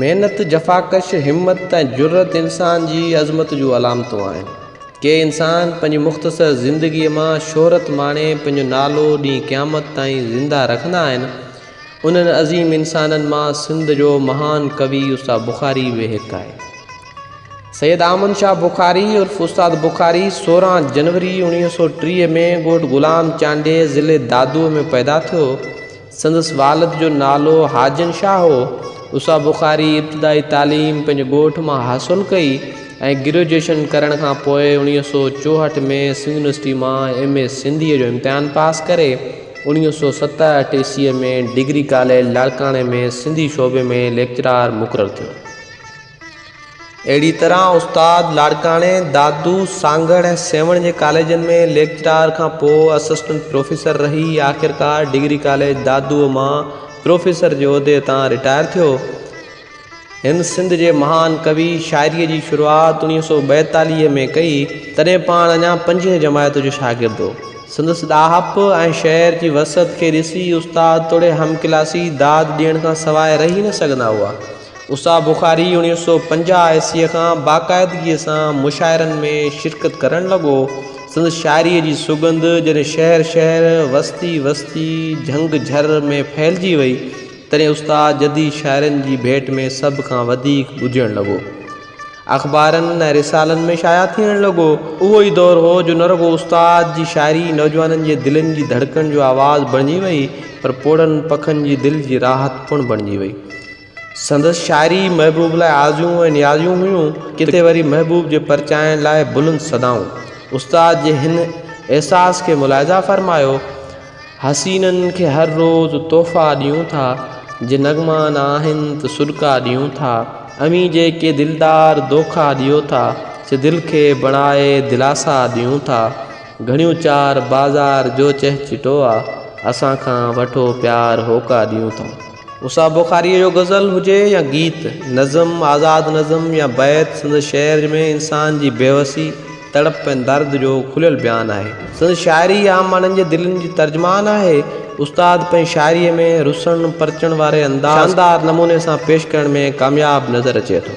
محنت، جفاڪش، همت ۽ جرئت انسان جي عظمت جون علامتون آهن. ڪي انسان پنهنجي مختصر زندگيء مان شهرت ماڻي پنهنجو نالو ڏينهن قيامت تائين زنده رکندا آهن. انهن عظيم انسانن مان سنڌ جو مهان ڪوي استاد بخاري به هڪ آهي. سيد آمن شاهه بخاري عرف استاد بخاري سورهن جنوري اوڻيهه سؤ ٽيهه ۾ ڳوٺ غلام چانڊيي ضلع دادوء ۾ پيدا ٿيو سندس والد جو نالو حاجن شاهه هو اسا بخاري ابتدائي تعليم پنهنجي ڳوٺ مان حاصل ڪئي ۽ گريجوئيشن ڪرڻ کان پوء اوڻيهه سؤ چوهٺ ۾ سنڌ يونيورسٽي مان ايم اي سنڌيء جو امتحان پاس ڪري اوڻيهه سؤ ستهٺ عيسويء ۾ ڊگري ڪاليج لاڙڪاڻي ۾ سنڌي شعبي ۾ ليڪچرار مقرر ٿيو اهڙي طرح استاد لاڙڪاڻي، دادو، سانگهڙ ۽ سيوهڻ جي ڪاليجن ۾ ليڪچرار کان پوء اسسٽنٽ پروفيسر رهي آخرڪار ڊگري ڪاليج دادوء مان پروفيسر جي عهدي تان رٽائر ٿيو. هن سنڌ جي مهان ڪوي شاعريء جي شروعات اڻيهه سؤ ٻائيتاليهه ۾ ڪئي، تڏهن پاڻ اڃا پنجين جماعت جو شاگرد هو. سندس ڏاهپ ۽ شعر جي وسعت کي ڏسي استاد توڙي همڪلاسي داد ڏيڻ کان سواء رهي نه سگهندا هئا. اسحاق بخاري اڻيهه سؤ پنجاهه عيسويء کان باقاعدگيء سان مشاعرن ۾ شرڪت ڪرڻ لڳو. سندس شاعريء جي سڳنڌ جڏهن شهر شهر، وستي وستي، جهنگ جهر ۾ ڦهلجي وئي، تڏهن استاد جديد شاعرن جي ڀيٽ ۾ سڀ کان وڌيڪ ٻڌجڻ لڳو. اخبارن ۽ رسالن ۾ شايع ٿيڻ لڳو. اهو ئي دور هو جو نه رڳو استاد جي شاعري نوجوانن جي دلين جي ڌڙڪڻ جو آواز بڻجي وئي، پر پوڙهن پکن جي دل جي راحت پڻ بڻجي وئي. سندس شاعري محبوب لاء آزيون ۽ نيازيون هيون، ڪٿي وري محبوب جي پرچائڻ لاء بلند صدائون. استاد جي هن احساس کي ملاحظه فرمايو، حسينن کي هر روز تحفا ڏيون ٿا، جي نغما نه آهن ته سڏڪا ڏيون ٿا، اوهين جيڪي دلدار دوکا ڏيو ٿا، سي دل کي بڻائي دلاسا ڏيون ٿا، گهڻيون چار بازار جو چهچٽو آ، اسان کان وٺو پيار هوڪا ڏيون ٿا. اها بخاريء جو غزل هجي يا گيت، نظم، آزاد نظم يا بيت، سندس شعر ۾ انسان جي بيوسي، تڙپ ۽ درد جو کليل بيان آهي. سندس شاعري عام ماڻهن جي دلين جي ترجمان آهي. استاد پنهنجي شاعريء ۾ رسڻ پرچڻ واري انداز کي شاندار نموني سان پيش ڪرڻ ۾ ڪامياب نظر اچي ٿو.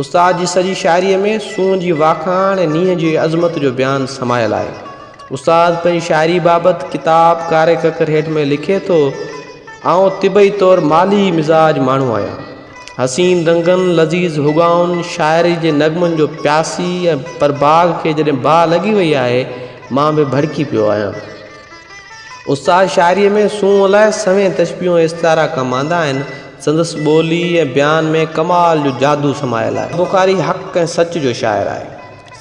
استاد جي سڄي شاعريء ۾ سونهن جي واکاڻ ۽ نينهن جي عظمت جو بيان سمايل آهي. استاد پنهنجي شاعريء بابت ڪتاب ڪاري ڪڪر هيٺ ۾ لکي ٿو، آئون طبعي طور مالهي مزاج ماڻهو آهيان. حسين رنگن، لذيذ هوڳائن، شاعريء جي نغمن جو پياسي ۽ پرڀاڳ کي جڏهن باهه لڳي وئي آهي، مان به ڀڙڪي پيو آهيان. استاد شاعريء ۾ سونهن لاء سوين تشبيهون ۽ استعارا ڪم آندا آهن. سندس ٻولي ۽ بيان ۾ ڪمال جو جادو سمايل آهي. بخاري حق ۽ سچ جو شاعر آهي.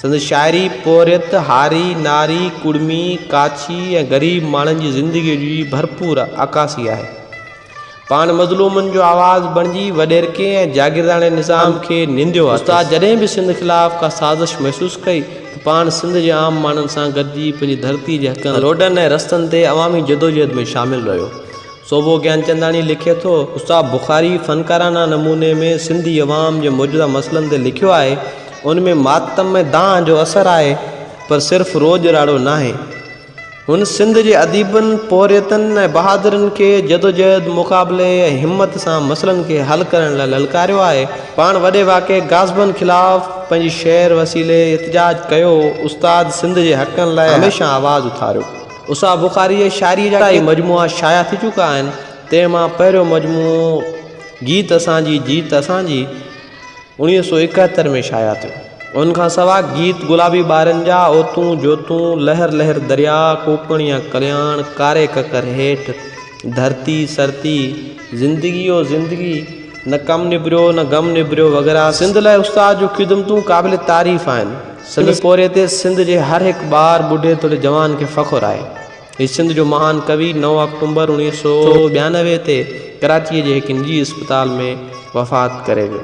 سندس شاعري پورهيت، هاري، ناري، ڪڙمي، ڪاڇي ۽ غريب ماڻهن جي زندگيء جي ڀرپور عڪاسي آهي. پاڻ مظلومن جو آواز بڻجي وڏيرڪي ۽ جاگيرداڻي نظام کي ننديو آهي. استاد جڏهن به سنڌ خلاف ڪا سازش محسوس ڪئي ته پاڻ سنڌ جي عام ماڻهن سان گڏجي پنهنجي ڌرتي جي حقن لاء روڊن ۽ رستن تي عوامي جدوجهد ۾ شامل رهيو. صوڀو گيانچنداڻي لکي ٿو. استاد بخاري فنڪارانه نموني ۾ سنڌي عوام جي موجوده مسئلن تي لکيو آهي. ان ۾ ماتم ۽ دانهن جو اثر آهي پر صرف روڄ راڙو ناهي. هن سنڌ جي اديبن، پورهيتن ۽ بهادرن کي جدوجهد، مقابلي ۽ همت سان مسئلن کي حل ڪرڻ لاء للڪاريو آهي. پاڻ وڏي واڪي غاصبن خلاف پنهنجي شعر وسيلي احتجاج ڪيو. استاد سنڌ جي حقن لاء هميشه آواز اٿاريو. استاد بخاريء جي شاعريء جا ڪيترائي مجموعا شايع ٿي چڪا آهن، تنهن مان پهريون مجموعو گيت اسان جي جيت اسان جي، اڻيهه سؤ ايڪاهتر ۾ شايع ٿيو. ان کان سواء گيت گلابي ٻارن جا، اوتون جوتون، لهر لهر درياء، ڪوڪڻ يا ڪلياڻ، ڪاري ڪڪر هيٺ، ڌرتي سرتي، زندگي او زندگي، نه ڪم نبريو نه غم نبريو وغيره سنڌ لاء استاد جون خدمتون قابل تعريف آهن. سندس پورهيي تي سنڌ جي هر هڪ ٻار، ٻڍي توڙي جوان کي فخر آهي. هي سنڌ جو مهان ڪوي نو آڪٽومبر اڻويهه سؤ ٻيانوي تي ڪراچيء جي هڪ نجي اسپتال ۾ وفات ڪري ويو.